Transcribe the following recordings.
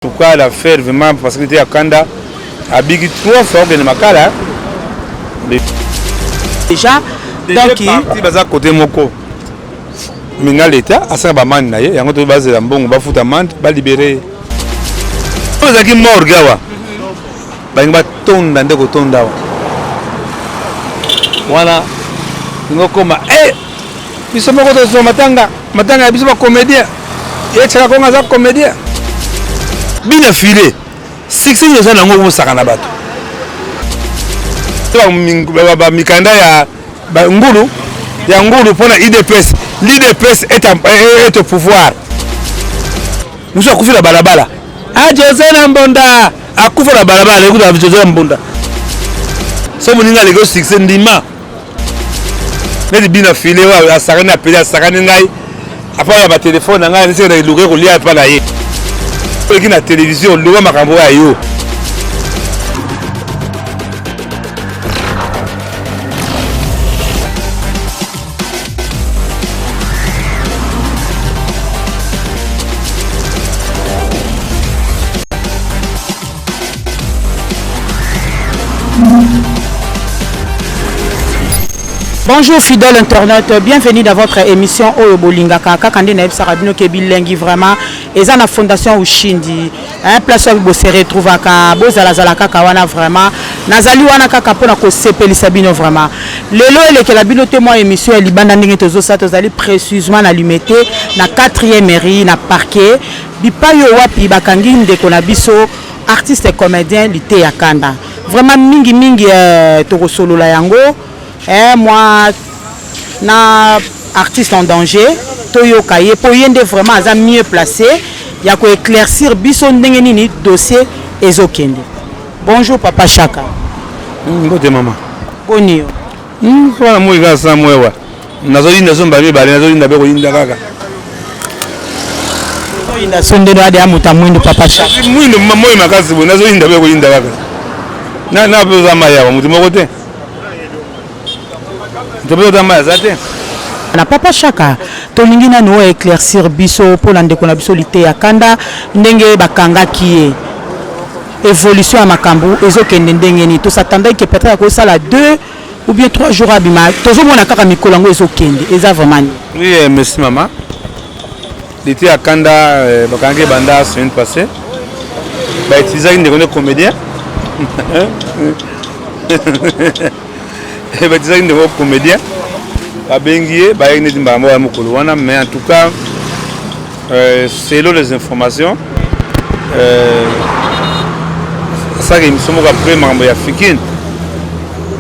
Pourquoi la faire vraiment parce que était à Kanda à Big trois fois que Makala déjà donc il baza côté moko mais na l'état à ça ba man na ye yango to base la mbongo ba futa man ba libérer oza ki mort gawa ba ngi ba tonda ndeko tonda wana ngokoma eh biso moko tozwa matanga matanga ya biso ba comédien ye chaka konga aza comédien bina filet succès nini oza nango obosaka na bato bamikanda ya ngulu ya ngulu mpo na idps l'idps est au pouvoir mosusu akufi na balabala a ah, jose na mbonda akufa na balabala ekuta jose na mbonda so moninga aleki osuccès ndima neti bina file oyo asakani apeli asakani ngai apa ya batelefone na ngai niseke na eluka ekolia epa na ye oleki na televizio loba makambo ya yo Bonjour fidèle internet, bienvenue dans votre émission Oyo Bolingaka kaka nde nayebisaka bino ke bilengi vraiment eza na fondation Ushindi hein, place oyo bose retrouvaka bozalazala kaka wana vraiment nazali wana kaka mpona kosepelisa bino vraiment lelo elekela bino te mwa émission ya libanda ndenge tozosala tozali précisement na limete na 4e mairie na parquet Bipayi oyo wapi bakangi ndeko na biso artiste comedien Liteya Kanda? Vraiment mingi mingi eh, tokosolola yango eh, mwa na artiste en danger toyoka ye mpo ye nde vraiment aza mieux place ya ko éclaircir biso ndenge nini dossier ezokende. Bonjour papa Shaka. Mbote mama. Boni yo? Mwana moi kaka sa mwewa. nazoyinda so mbala mibale nazoyinda mpe koyinda kaka ozoyinda so nde noyade ya moto ya mwindu papa cha mwindu moi makasi boye nazoyinda mpe koyinda kaka na mpe oza mai awa moto moko te moto mpe oza mai aza te na papa shaka tolingi nanu oyo éclaircir biso mpo na ndeko na biso liteya kanda ndenge bakangaki ye évolution ya makambo ezokende ndenge nini tosatandaki ke peut-être akosala deux ou bien 3 jours abima tozomona kaka mikolo yango ezokende eza vraiment nini oui eh, merci mama lite ya kanda eh, bakangaki ebanda semaine passée bautilisaki ndeko nde comédien bautilisaki ndeko comédien babengi ye bayaki neti mbala moko ya mokolo wana mais en tout cas Euh, selon les informations euh, asalaka émission moko après makambo ya fikine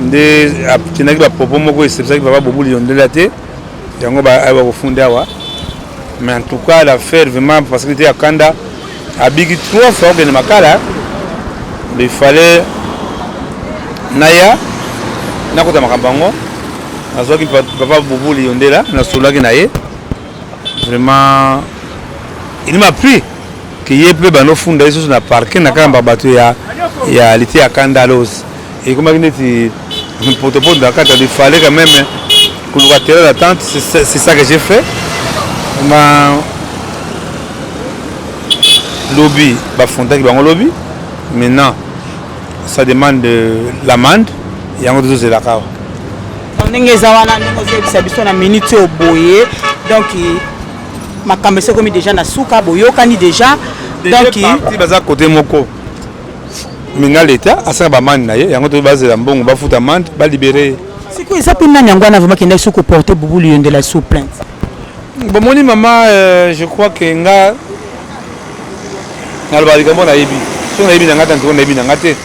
nde akendaki bapropos moko esepesaki papa bobuli yondela te yango bakofundi awa mais en tout cas l'affaire vraiment parce que te akanda abiki trois fois okende makala il fallait naya nakota makambo yango nazwaki papa bobuli yondela nasololaki na ye vraiment il m'a pris que ye mpe banofunda ye susu na parke na kaka bato ya, ya lite ya kandalos ekomaki neti potopoto na kati il fallait quand même koluka terrain d'attente c'est ça que j'ai fait ma lobi bafondaki bango lobi maintenant Ça demande euh, l'amende yango tozozela kawa ndenge eza wana ndenge ozoyebisa biso na minute oyo boye donc makambo esi ekomi déjà na suka boyokani déjà donc baza kote moko minga leta asala bamande na ye yango to bazela mbongo bafuta amande balibere ye sikoyo eza mpe nani yango wana vraimen kendaki soki koporte bubulu yondela sous plainte Bomoni mama, euh, je crois que nga nalobaka likambo nayebi so nayebi na ngai te ntoko nayebi na ngai te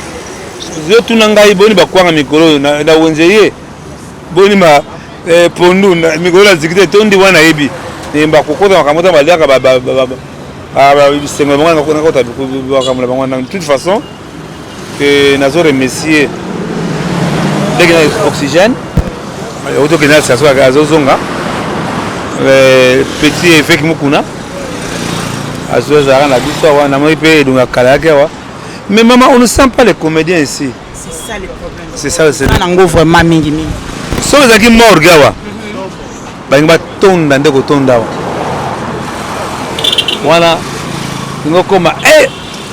yo tuna ngai boni bakwanga mikolo oyo na wenze ye boni ma euh, pondu mikolo na ziki te tondi wana nayebi eh, bakokota makambo ta baliaka bisengo na bango nakota makambo na bango na toute façon que nazo remercier ndenge na oxygène otokende na station kaka azozonga petit eveke mokuna azozalaka na biso awa namoni mpe edongo ya kala yake awa mais mama on ne sent pas les comédiens ici c'est ça nango vraiment mingi mingi soki ezalaki morgue awa mhm. balingi batonda nde kotonda awa wana ingo koma e eh!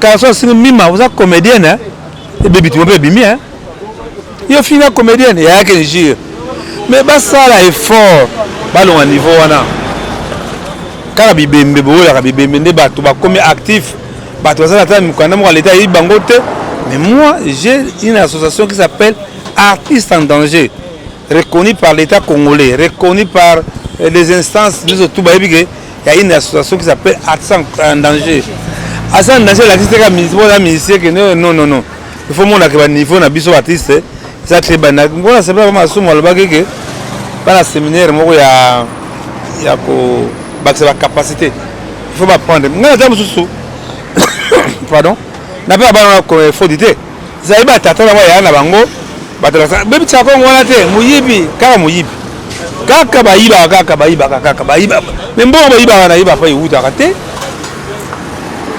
Kalso asini mima oza comedienne hein? Ebebi tu mpe bimi hein? Yo finga comedienne ya yake njir. Mais basala effort balonga niveau wana. Kaka bibembe boyolaka bibembe nde bato bakomi actif. Bato bazala ata mikanda moko leta ayebi bango te. Mais moi j'ai une association qui s'appelle Artistes en danger reconnue par l'État congolais, reconnue par les instances biso tout bayebi que ya une association qui s'appelle artiste en danger aza en danger alakisi teka boza musicien ke non non non il faut monaka baniveau na biso artiste eza te banda mpona sepela ba masumu alobaki ke bana séminaire moko ya ya kobakisa bacapacité il faut baprendre ngai ata mosusu pardon nape abana na fodi te Zayi ba tata na ba yaya na bango bato na bebi tsa kongo wana te muyibi kaka muyibi kaka bayibaka kaka bayibaka kaka bayiba mais mbongo bayibaka na ye papa ewutaka te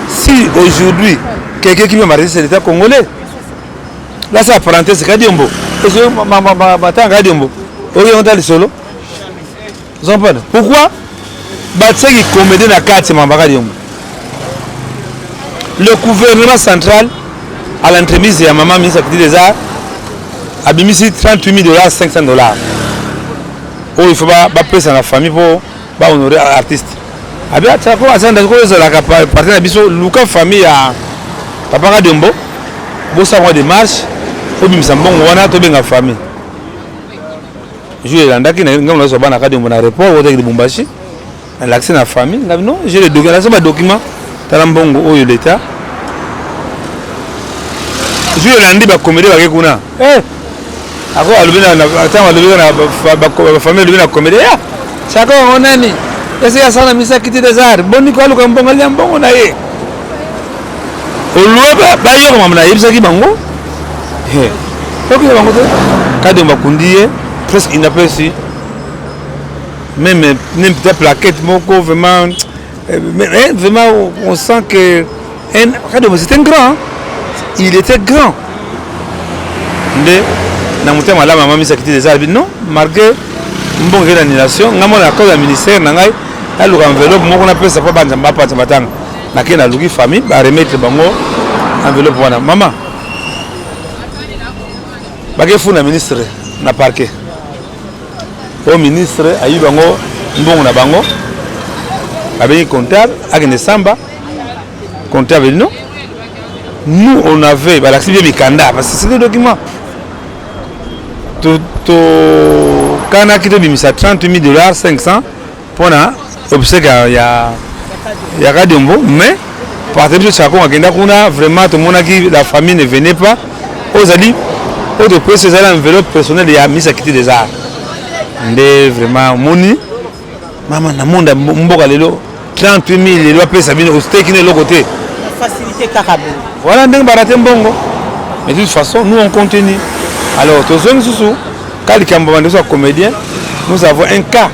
si aujourd'hui quelqu'un qui veut marier c'est l'état congolais là ça parenthèse kadiombo matanga kadiombo oyo yongo ta lisolo Zampana, pourquoi batsaki comédie na kati mambaka diongo le gouvernement central à l'entremise ya maman ministre ya culture des arts abimisi 38 000 dollars 500 dollars oyo il faut bapesa na famille mpo bahonore artiste abi atako azanda ko ezalaka parti na biso luka famille ya papa kadiombo bosala mwa démarche obimisa mbongo wana tobenga famille jour elandaki ngai nazwa bana kadembo na report otaki libumbashi nalakisi na famille ngai non je le document nazwa badocument tala mbongo oyo leta jour elandi bakomede bake kuna eh, ako alobi ntango alobi bafamille alobi na komede ya saka yango nani esi asala misaki ti desar boni ko aluka mbongo alia mbongo na ye olue bayokama na yebisaki bango okende bango te kadi bakundi ye presque inapesi meme meme ta plaquette moko vraiment eh, eh, vraiment on sent que kadi c'était un grand il était grand nde na motema malamu amamisaki te eza non malgré mbongo ezali na annulation ngai mona na cause ya ministère na ngai naluka enveloppe moko napesa mpo banza bapanza matanga nake naluki famille ba remettre bango enveloppe wana mama bakefuna ministre na parquet oyo ministre ayi bango mbongo na bango abengi comptable akende samba comptable non nous on avait balakisi bie mikanda parce que c'était document tokanaki tobimisa 30 000 dollars 500 pona obsèque ya ya ya Kadiombo mais partir biso Chako akenda kuna vraiment tomonaki la famille ne venait pas ozali oyo topesi ezali enveloppe personnelle ya misa kiti des arts nde vraiment omoni mama na monde ya mboka lelo 38 000 lelo apesa bino osteki na eloko te facilité kaka boye voilà ndenge barate mbongo mais de toute façon nous on continue alors tozongi susu ka likambo bandeso ya comédien nous avons un cas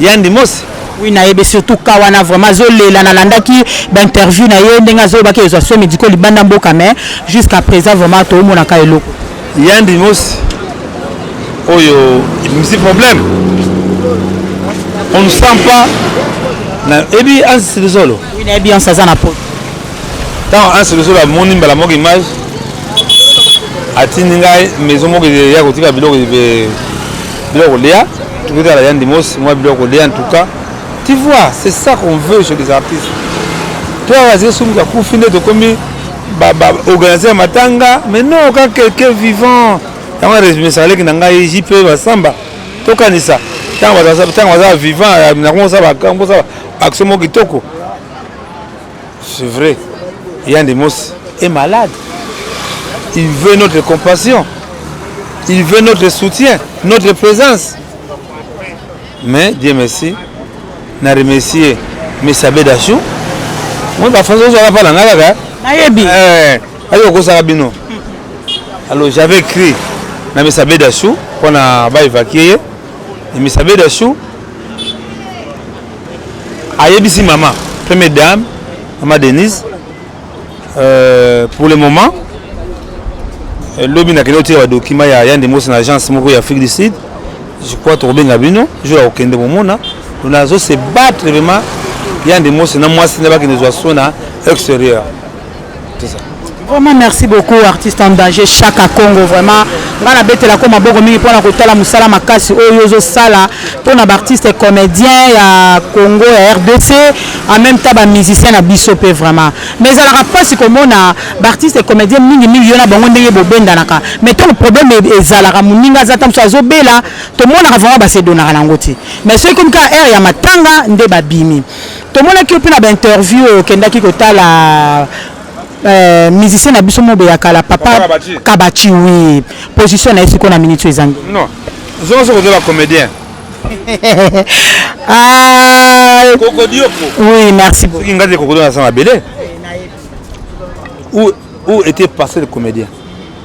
Yandi Mosi Oui, nayebi surtout ka wana vraiment azolela nalandaki bainterview na ye ndenge azolobaki ezwa soin médicaux libanda mboka mais jusqu'à présent vraiment toomonaka eloko yandi mosi oyo ebimisi problème on ne sent pas nayebi ansi lisolo oui, nayebi ansi aza na poto ntango ansi lisolo amoni mbala moko image atindi ngai maison moko ya kotika biloko biloko kolia tokotala ya ndimos mwa biloko kolia en tout cas tu vois c'est ça qu'on veut chez les artistes to awa azali sumuka kufi nde tokomi baorganiser matanga mais non ka quelqu'un vivant yango aresumisaka leki na ngai jp basamba tokanisa ntango baza vivant nakomosala action moko kitoko C'est vrai. Yandemos est malade. Il veut notre compassion. Il veut notre soutien, notre présence. Mais Dieu merci, na remercier Mesabe Dachou. Moi, ba français ozala pa na nga kaka. Nayebi. Eh, ayo kosaka bino. Alors j'avais écrit na Mesabe Dachou pour na ba évacuer. Et Mesabe Dachou ayebisi mama première dame mama denise euh, pour le moment euh, lobi nakende otika badokima ya yande mosi na agence moko ya afrique du sud je crois tokobenga bino jour ya kokende komona nazo se battre vraiment yande mosi na mwasi na bakende zwa so na extérieur Vraiment merci beaucoup artiste en danger Chaka Congo vraiment nga na betela ko maboko mingi pona kotala musala makasi oyo ozo sala pona ba artiste comédien ya Congo ya RDC en même temps ba musicien na biso pe vraiment mais ezalaka pasi komona ba artiste comédien mingi mingi yo na bango ndenge bobendanaka mais to problème e-, ezalaka muninga za tamso azo bela tomonaka vraiment ba se donaka nango ti mais soki komi ka heure ya matanga nde babimi Tomonaki yo mpe na ba interview oyo okendaki kotala euh, musicien na biso mobe ya kala papa, papa Kabachi. Kabachi oui position na ye sikoyo na minute ezangi non zonga soki oza ba comédien ah, kokodioko oui merci beaucoup soki ngai te kokodo na sanga bele où, où était passé le comédien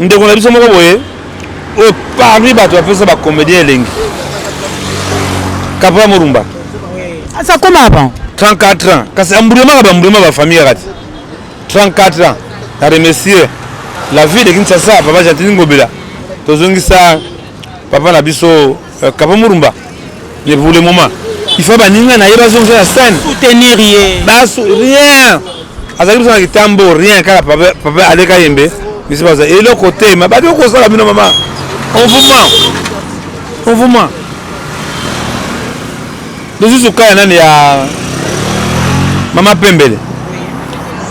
ndeko na biso moko boye oyo parmi bato bapesa bacomédien elengi kapra morumba asi akoma avant 34 ans kasi ambulemaka bambulema bafamille kaka te 34 ans na remercier la ville de kinshasa papa gentini ngobela tozongisa papa na biso Euh, Kaba Murumba, mais pour le moment, il faut baninga na ye bazonga na scène. Soutenir ye. Basu rien. Azali biso na kitambo rien kaka papa papa aleka yembe. Bisi baza eloko te ma badi okosala bino mama. On vous ment. On vous ment. Lisusu kaya nani ya mama pembele.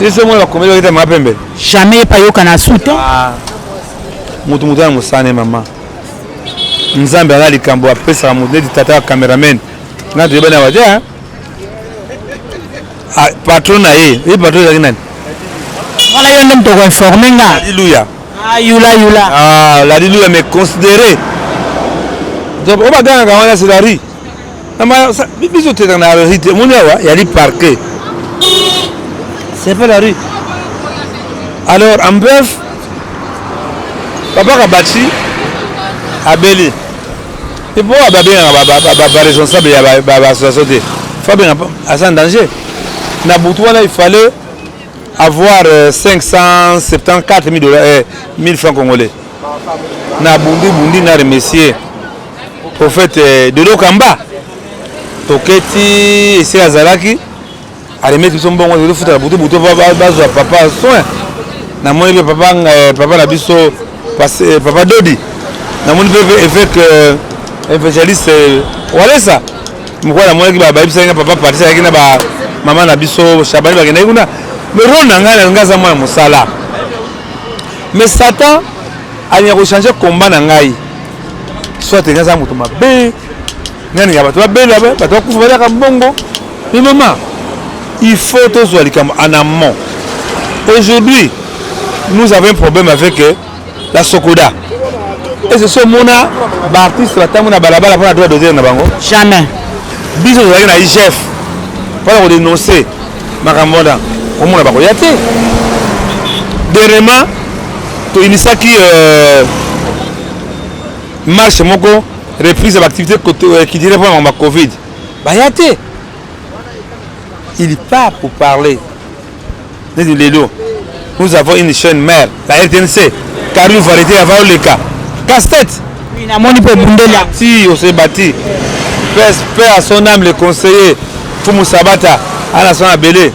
Lisusu mwana bakomeli bakita mama pembele. Jamais epayokana soutien. Ah. Mutu mutu ya mosane mama. nzambe aza likambo apesaka moto neti tata ya cameraman nga toyebani awa te ah, patron na ye ye patron ezalaki nani wana yo nde moto okoinforme nga ladiluya ah, yula yula ah, ladiluya mais considere obagangaka wana selari biso teka na rue te omoni awa yali parke c'est pas la rue alors en bref papa kabachi abeli epo babengaka baresponsable ya baassociation te fo abenga aza en danger na butu wana il fallait avoir 574 euh, 000 euh, francs congolais na bundi bundi na remercier prophète dodo kamba toketi ese azalaki aremeti biso mbongo tozo futa na butu butu bazwa papa soin namoni mpe papa eh, papa na biso eh, papa dodi namoni mpe évêque eh, évangéliste walesa mokwa namonaki bayebisaki nga papa patisa yaki na bamama na biso shabani bakendaki kuna me role na ngai nalingi aza mwana mosala me satan alinga kochange combat na ngai soit nga aza moto mabe nani ya bato babela bato bakufa baliaka mbongo mais mama il faut tozwa likambo en amont aujourd'hui nous avons un problème avec euh, la sokoda ese so omona baartiste batango na balabala mpona droit dodere na bango jamais biso tozalaki na igf mpona kodenonce makambo wana komona bakoya te dernièrement toinisaki euh, marche moko reprise ya baactivité euh, qui dirait vraiment ma covid baya te il pas pour parler neti lelo nous avons une chaîne mère la rtnc carine varité ava oleka casse tête namoni mpe obundeli ti osebati paix à son âme le conseiller fumu sabata ana son abele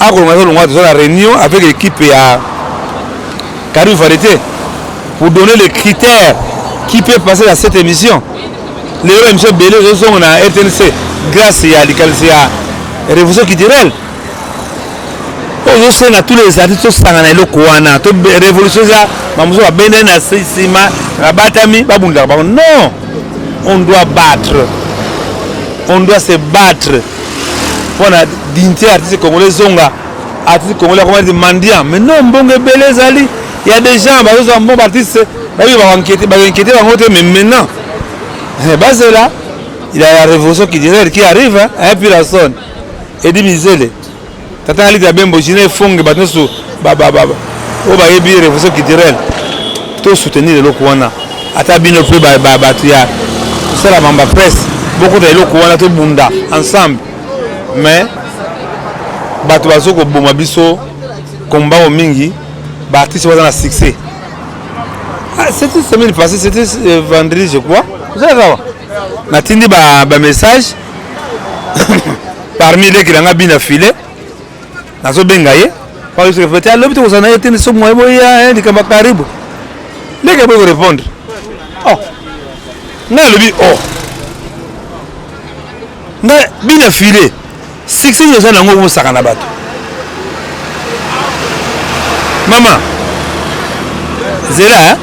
akolonga aza longa toza na réunion avec l'équipe ya Carine Varieté pour donner les critères qui peut passer dans cette émission lelo émission ebele ezozonga na rtnc grâce ya likanisi ya révolution culturelle oyo ozosenga tous les artistes tosangana eloko wana to révolution eza bamosusu babendani na nsima babatami babundaka bango non on doit battre on doit se battre mpo na dignité ya artiste congolais ezonga artiste congolais akoma neti mendiant mais non mbongo ebele ezali ya des gens bazozwa mbongo baartiste bayebi bakonkete bakonkete bango te mais maintenant eh, bazela il y a la révolution culturelle qui arrive hein, hein Peterson Eddie Mizele Tata Alita ya Bembo, Gina Efonge, bato nyonso oyo bayebi revolution culturelle, to soutenir eloko wana. Ata bino mpe bato ya kosala mamba presse, bokota eloko wana, tobunda ensemble. Mais bato bazo koboma biso komba oyo mingi, baartiste baza na succès. Ah, c'était semaine passée, c'était euh, vendredi je crois. Vous allez voir. natindi ba, ba message parmi leki nanga bina file nazobenga ye paosekefete alobi tokozala na ye te soki moye boya eh, likambo ya karibu leki aboyi korepondre oh. ngai alobi oh nga bina filet succès nini oza nango obosaka na bato mama zela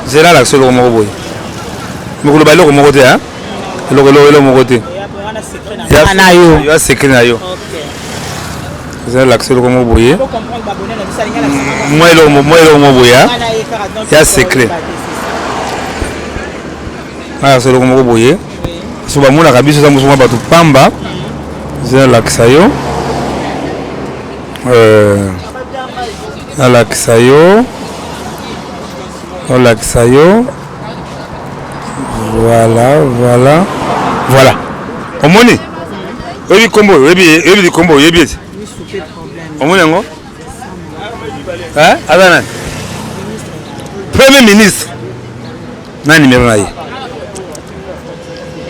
zela alakisa eloko moko boye mikoloba eloko moko te eloko eloko eloko moko te ya secret na yo zela alakisa eloko moko boye mwa eloko moko boye ya secret alakisa eloko moko boye so bamonaka biso eza mosu mwa bato pamba eza nalakisa yo euh, nalakisa yo nalakisa yo voilà voilà voilà omoni oyebi nkombo oyebi likombo oyebi ete omoni yango Hein? Aza nani? Premier ministre. Nani numéro na ye?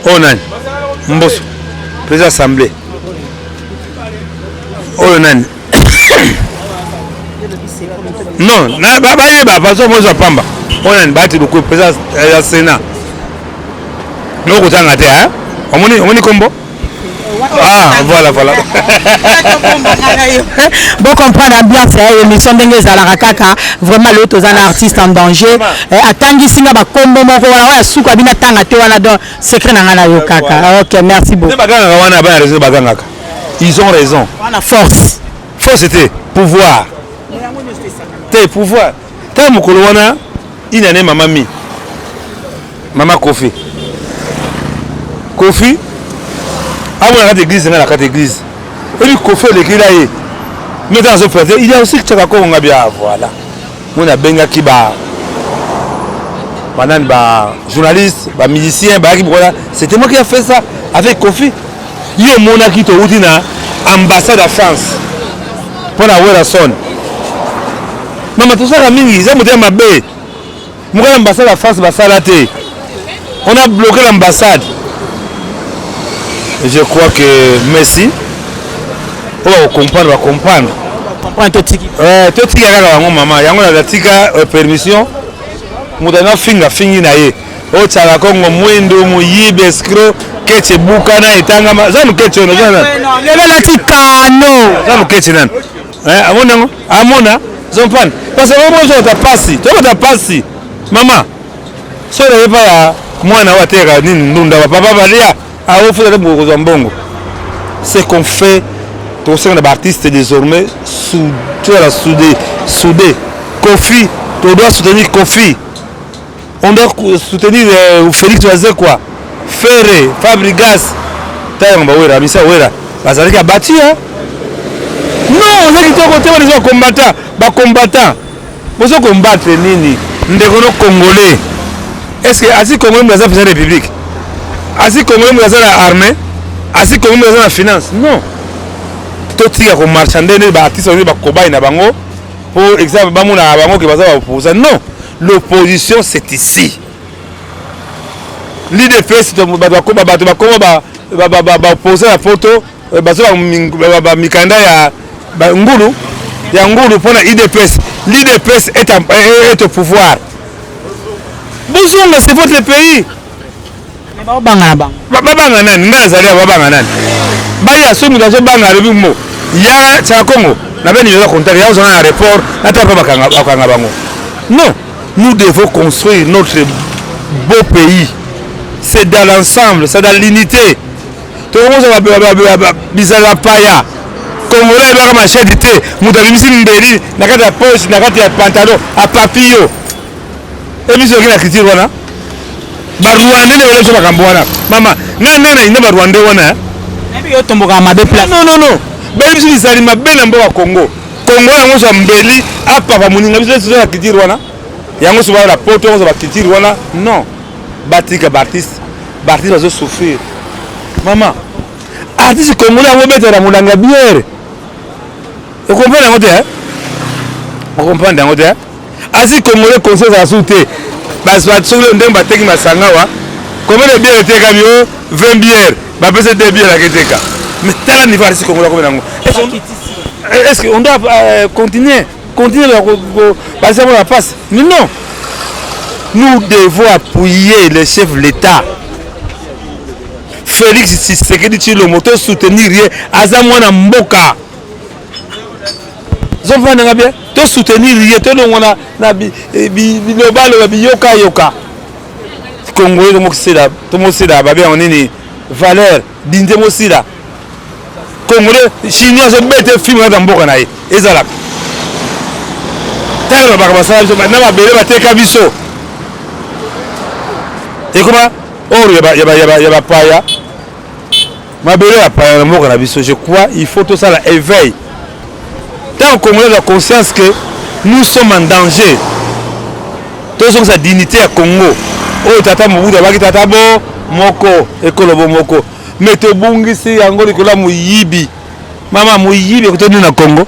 Oyo oh, nani? Mboso. Président assemblée. Oyo oh, nani? non, bayeba bazo mozwa pamba. Oyo oh, nani? Bahati Lukuyu, président ya Sénat. Nokotanga te, hein? Omoni omoni kombo? Ah, voilà, voilà. bon comprendre ambiance ya eh, émission ndenge ezalaka kaka vraiment lelo toza na artiste en danger eh, atangisi nga bakombo moko wana oyo asuka bino atanga te wana donc secret na ngai nayokaka ah, ok merci beaucoup bagangaka wana bana raison bagangaka ils ont raison wana force force te pouvoir te pouvoir Tala mokolo wana une année mama mi mama kofi kofi amona kati église nga na kati église ebi kofi elekila ye mais ntango azoprete il y a aussi chaka kongo nga bia voilà moni abengaki ba banani ba journaliste ba musicien bayaki bokola c'était moi qui a fait ça avec kofi Yo omonaki towuti na ambassade ya France mpo na Werrason. Mama tosaka mingi eza motema mabe. Mokala ambassade ya France basala te. On a bloqué l'ambassade. Je crois que Messi oyo oh, bakokomprendre bakomprendre eh, totika kaka bango mama yango natika euh, permission moto anafinga fingi na ye o tsaka kongo mwindu moyibi escro keti ebukana etangama za moketi oyo naza lelo elati kano za moketi nani eh, amoni yango amona zompane parce que omo ozokota pasi tokota pasi mama soki naye pa ya mwana oyo ateyaka nini ndunda bapapa balia aofuta te bokozwa mbongo ce qu'on fait tokosenga na baartiste désormais toyala soude soude kofi todoit soutenir kofi On doit soutenir euh, Félix Wazekwa, Ferre, Fabrigas, Tayango Bawera, Misa Wera, bazalaki ya bati hein? Non, oza kitoko te bana eza combattant, ba combattant. Bozo combattre nini? Ndeko no congolais. Est-ce que asi congolais mbaza pesa république? Asi congolais mbaza na armée? Asi congolais mbaza na finance? Non. Totika ko marchander ne ba artistes ba kobai na bango. po exemple bamonaka bango ke baza baoposa non l'opposition c'est ici l'idps bato bakoma baoposa ya poto eh, bazo bamikanda ya ngulu ya ngulu mpo na idps l'idps est au pouvoir bozonga c'est votre pays Mais ba banga na bango. Ba banga nani? Ngai azali ba banga nani? Bayi ya somi dazo banga alobi mo. Ya cha Congo na beni yola contact ya ozana na report na tapa bakanga bakanga bango. Non, nous devons construire notre beau pays. C'est dans l'ensemble, c'est dans l'unité. tokozala bizala paya kongolo ayebaka mashedi te moto abimisi mbeli na kati ya poche na kati ya pantalon apapi yo Emission okina critique wana. Ba Rwandais ndio wale sema kambo wana. Mama, nani nani na inda ba Rwandais wana? Eh? Nabi yo tomboka mabe place. Non non non. Ba biso bizali mabe na mboka Congo. Congo yango za mbeli apa ba muninga biso sio ya critique wana. Yango sio ba poto yango ba critique wana. Non. Batika ba artiste. Ba artiste bazo souffrir. Mama, artiste congolais yango betela mulanga bière. Okomprendre yango te? Eh? Okomprendre yango te? Eh? Asi congolais conscience ya su te. Bas ba solo ndenge bateki masanga wa. Combien de bière eteka bio 20 bière. Ba pesa 2 bière la keteka. Mais tala niveau asi congolais comme nango. Est-ce qu'on doit euh, continuer continuer la basi la passe Mais non. Nous devons appuyer les chefs de l'État. Félix Tshisekedi Tshilombo to soutenir ye aza mwana mboka. zovanda nga bien to soutenir ye tolongwa na, na bilobaloba bi, bi, biyokayoka congolais tomokisela tomosela babe yango nini valeur dinze mosila congolais chinois azobete film kaka mboka na ye ezalaka ntango babaka basala biso na mabele bateka biso ekoma oro ya bapaya Mabele ya paya na mboka na biso, je crois il faut tosala éveil. Tant Congolais la conscience que nous sommes en danger. Tozongisa dignité ya Congo. Oyo tata Mobutu abaki tata bo moko ekolo bo moko. Mais tobungisi yango likolo ya moyibi. Mama moyibi ekotendi na Congo.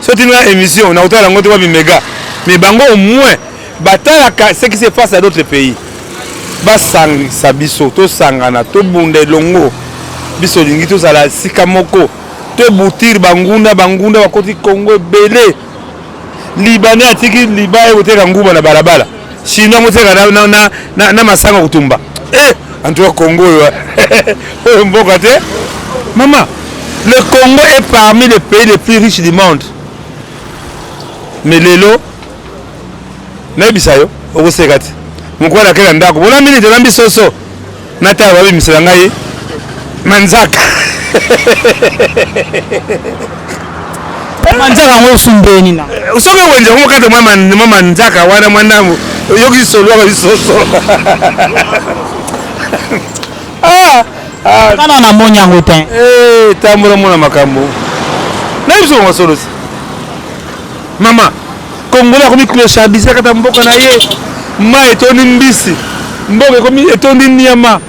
so tindi nga émission nakotala yango te wapi mega mais bango au moins batalaka ce qui se passe à d'autres pays basangisa biso tosangana tobunda elongo biso olingi tozala esika moko tobutire banguna banguna bakoti kongo ebele libanais atiki liba ye koteka nguba na balabala Chinois moteka na, na, na, na, na masanga kutumba. Eh, en tout cas Congo oyo oyo mboka te. Mama, le Congo est parmi les pays les plus riches du monde. Mais lelo nayebisa yo okoseka te. Mokolo akela ndako. Bona minute olambi soso. Natala babimisela ngai manzaka manzaka yango osumbeni na eh, soki wenze yango kata mwa manzaka wana mwa ndambo oyoki lisolo yaka lisoso ah, ah. kana na moni yango te eh, tambola mona makambo na biso masolosi Mama, Congolais akomi clochardiser kata mboka na ye. Mai etondi mbisi, mboka ekomi etondi nyama.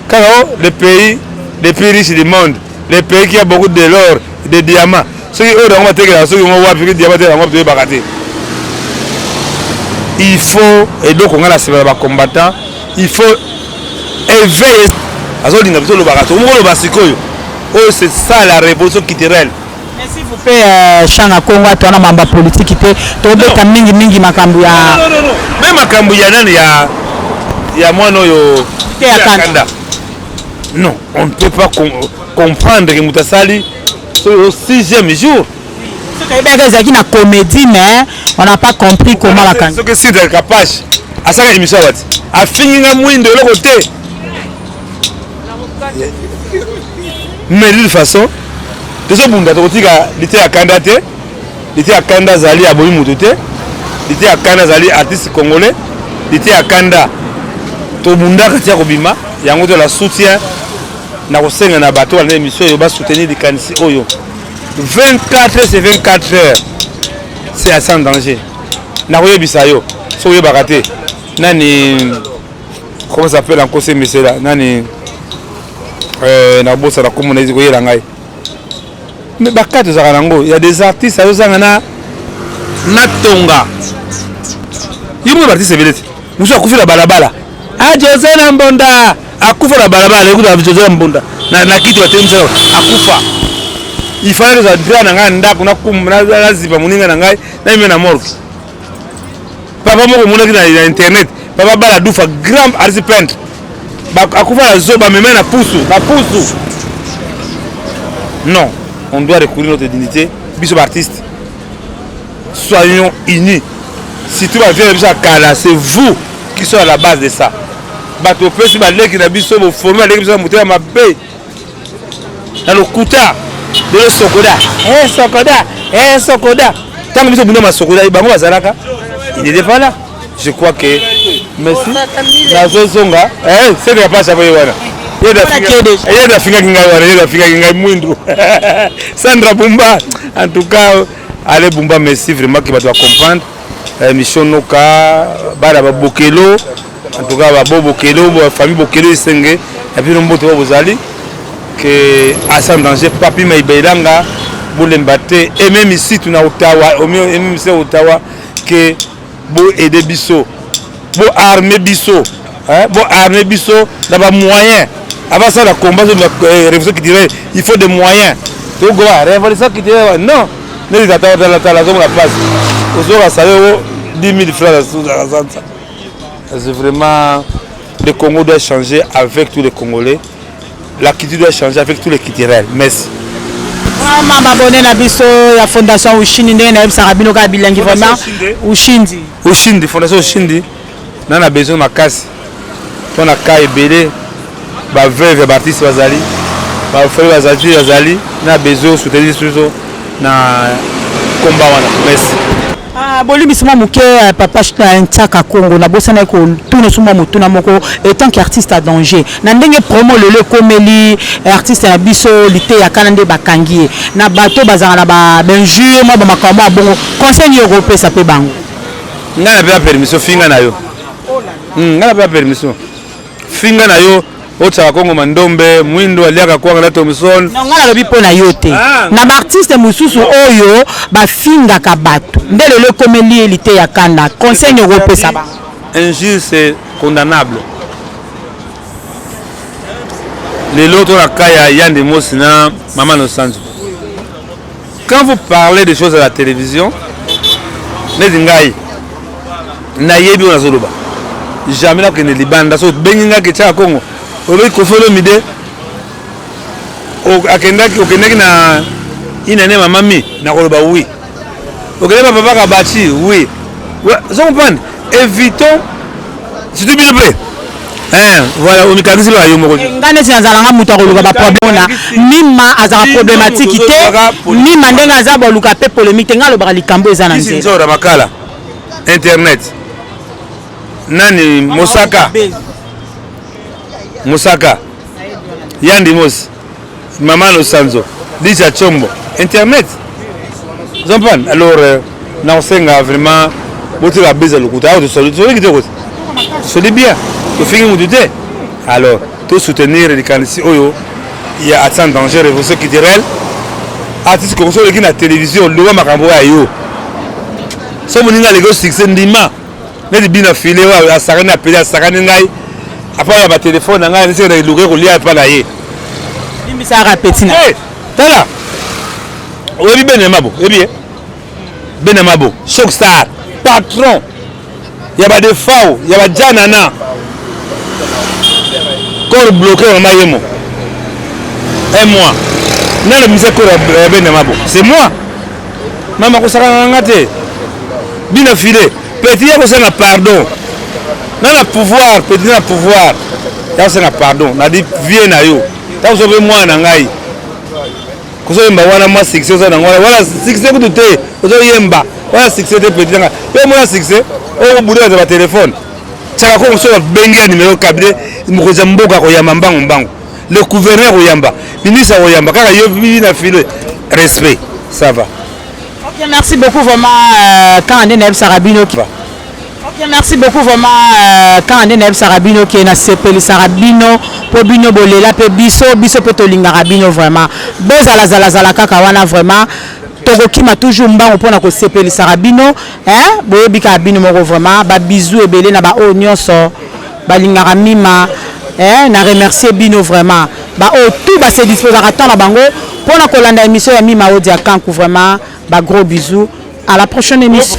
Kaka o le pays le plus riche du monde, le pays qui a beaucoup de l'or, de diamants. Soki oyo nango batekelaka soki ngo wapi soki diamant tekelaka ngo toyebaka te. Il faut eloko ngai na sima na ba combattants, il faut éveiller azolinga biso olobaka tokomi koloba sikoyo oyo c'est ça la révolution culturelle Mais s'il vous plaît, euh, chant na Congo atu wana mamba politique te. Tobeta mingi mingi makambo ya Non, non, non, non. Même makambo ya nani ya ya mwana oyo Te ya Kanda. Non, on ne peut pas com comprendre que moto asali au sixième jour. soki ayebaka ezalaki na comédie mais on n'a pas compris comment bakangi Soki Sidra Kapash asala émission ya wati afingi nga mwindo eloko te mais d'une façon tozobunda tokotika lite ya kanda te lite ya kanda azali aboyi moto te lite ya kanda azali artiste congolais lite ya kanda tobundaka tia kobima yango tola soutien na kosenga na bato balanda émission oyo basoutenir likanisi oyo 24 heures c'est 24 heures c'est assez en danger nakoyebisa yo soki oyebaka te nani Comment s'appelle en conseil monsieur là Nani euh, na bossa na komo na koyela ngai. Mais bakati ozaka nango, il y a des artistes azozanga na na tonga. Yimo ba artiste belete. Musu akufi na balabala. Ah Jose na mbonda akufa na balabala ekuta Jose na mbonda na na kiti batelemisa akufa. Il fallait que ça dira na ngai ndako na kum na zipa muninga na ngai na ime na morgue. papa moko omonaki na internet papa bala dufa grand artiste peintre akufa na zoba meme na pusu na pusu non on doit recourir notre dignité biso baartiste soyons unis surtout bavieux na biso ya kala c'est vous qui sont à la base de ça bato opesi baleki na biso boforme baleki biso na motema mabe na lokuta lelo sokoda eh, sokoda eh, sokoda ntango biso bunda masokoda eh, bango bazalaka il était pas là je crois que merci nazozonga seke ya pasi akoye wana ye nafingaki ngai wana ye nafingaki ngai mwindu sandra bumba en tout cas ale bumba merci vraiment ke bato bacomprendre émission noka bana babokelo En tout cas ba bo bokelo ba famille bokelo isenge ya bino mboto ba bozali que asa danger papi mai bailanga bolemba te et même ici tuna Ottawa au mieux et même ici Ottawa que bo aider biso bo armer biso hein bo armer biso na ba moyens avant ça la combat sur la euh, révolution qui dirait il faut des moyens to go révolution qui dirait non ne les attends pas la zone la passe ozoka sale 10 000 francs à la C'est vraiment le Congo doit changer avec tous les Congolais. La culture doit changer avec tous les culturels. Merci. Vraiment babone na biso ya fondation Ushindi ndenge nayebisaka bino kaka bilengi vraiment Ushindi. Ushindi fondation Ushindi na na besoin makasi mpo na cas ebele ba veuve ya baartiste bazali bafali bazali bazali na besoin soutenir biso na combat wana merci Ah, bolimbisi mwa moke euh, papa euh, ntiaka congo nabosanaki kotuna so mwa motuna moko etant que artiste à danger na ndenge promo lelo ekomeli euh, artiste na biso liteya kana nde bakangi ye na bato bazalaka na bainjure mwa bamakambo ya bongo conseil nini okopesa mpe bango ngai napesa permission finga na yo hmm, ngai napesa permission finga na yo Otsaka kongo mandombe mwindo aliaka kwanga na Thomson. Non, nga nalobi mpo na yo te. Ah, Na baartiste mosusu oyo bafingaka bato nde lelo ekomeli ye liteya kanda. Conseil nini okopesa bango? Injure c'est condamnable. Lelo to na cas ya Yande Mosi na Mama Nosanzo. Quand vous parlez des choses à la télévision, neti ngai nayebi oyo nazoloba jamais nakokende libanda so obengi ngai ketia ya kongo olobaki kofi olomide akendaki okendaki na inane mamami nakoloba wi okendaki bapapaka bati wi so comprendre Evitons surtout bino mpe Eh, voilà omikangisi loka yo moko eh, nga neti nazala nga moto akoluka baproblème na mima azalaka problématique te mima ndenge aza boluka mpe polémique te nga alobaka likambo eza na nzela makala internet nani mosaka mosaka yandimosi Maman Losanzo, Lisa Chombo, internet. Zompan, alors euh, na osenga vraiment bote ba beza lokuta. Ayo tosoli tosoli kitoko. Tosoli bien. Tofingi mutu te. Alors, to soutenir likanisi oyo ya Atsan Danger Révolution Culturelle. Artiste koko soki na télévision loba makambo ya yo. So moninga aleki succès ndima. neti bina file oyo asakani apeli asakani ngai apa ya batelefone na ngai nisi na eluka ekolia epa na ye limbisaka apeti na eh, tala oyebi bene mabo oyebi ye bene mabo choc star patron ya badefao ya bajanana corps bloqué mama yemo un mois nalobisa corps ya bene mabo c'est moi Mama akosakana na nga te. Bina file. Petit ya kosenga pardon. Na na pouvoir, petit na pouvoir. Ya kosenga pardon. Na di vie na yo. Ta kosobe mwana na ngai. Kosoyemba wana mwa succès oza na ngo. Wana succès kutu te. Ozoyemba. Wana succès te petit na nga. Yo mwana succès. Oyo budo ya ba téléphone. Tsaka ko mosoba bengi ya numéro cabinet. Mokoza mboka koyamba mbangu mbangu. le gouverneur oyamba ministre oyamba kaka yo bibi na file respect ça va ok merci beaucoup vraiment euh, quand ande nayebisaka bino ok merci beaucoup vraiment euh, quand ande nayebisaka bino ke nasepelisaka bino mpo bino bolela mpe biso biso mpe tolingaka bino vraiment bozalazalazala kaka wana vraiment tokokima toujours mbangu mpona kosepelisaka bino boyebi kaka bino moko vraiment babizou ebele na baoyo nyonso balingaka mima eh, na remercier bino vraiment ba oyo tout ba se disposaka temps na bango mpo na kolanda émission ya mima odi ya kanku vraiment ba gros bisous à la prochaine émission